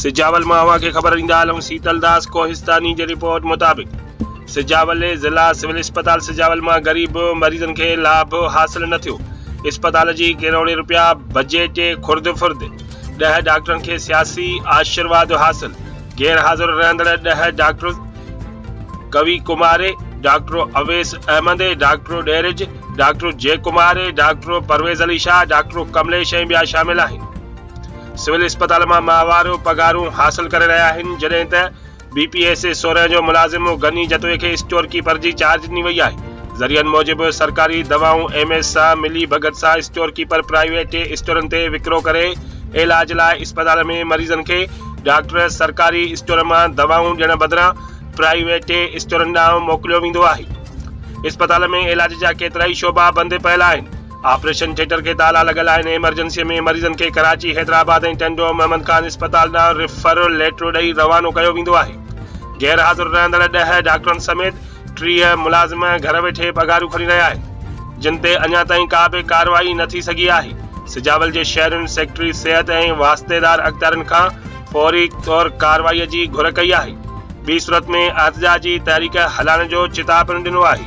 سجاول مان اوهان کي خبر ڏيندا هلون سيتل داس ڪوهستاني جي رپورٽ مطابق سجاول ضلع سول اسپتال سجاول مان غريب مريضن کي لاڀ حاصل نه ٿيو اسپتال جي ڪروڙين روپيا بجيٽ خرد فرد ڏهه ڊاڪٽرن کي سياسي آشيرواد حاصل غير حاضر رهندڙ ڏهه doctors Kavi Kumari, doctor Awais Ahmed, doctor Dheeraj, doctor Jai Kumari, doctor Parvez Ali Shah, doctor Kamlesh ۽ ٻيا شامل آهن. سول اسپتال مان ماهوار پگهارون حاصل ڪري رهيا آهن جڏهن ته بي پي ايس اي سورهن جو ملازم غني جتوئي کي اسٽور ڪيپر جي چارج ڏني وئي آهي. ذريعن موجب سرڪاري دوائون ايم ايس سان ملي ڀڳت سان اسٽور ڪيپر پرائيويٽ اسٽورن تي وڪرو ڪري علاج لاء اسپتال ۾ مريضن کي ڊاڪٽر سرڪاري اسٽور مان دوائون ڏيڻ بدران پرائيويٽ اسٽورن ڏانهن موڪليو ويندو آهي. اسپتال ۾ علاج جا ڪيترائي شعبا بند پيل آهن. آپريشن ٿيٽر کي تالا لڳل آهن. ايمرجنسيء ۾ مريضن کي ڪراچي، حيدرآباد ۽ ٽنڊو محمد خان اسپتال ڏانهن ريفر ليٽر ڏئي روانو ڪيو ويندو آهي. غير حاضر رهندڙ ڏهه ڊاڪٽرن سميت ٽيهه ملازم گهر ويٺي پگهارون کڻي رهيا آهن، جن تي اڃا تائين ڪا به ڪارروائي نه ٿي سگهي آهي، سجاول جي شهرين سيڪريٽري صحت ۽ واسطيدار اختيارين کان فوري طور ڪارروائي جي گهر ڪئي آهي، ٻي صورت ۾ احتجاج جي تحريڪ هلائڻ جو چتاء پڻ ڏنو آهي.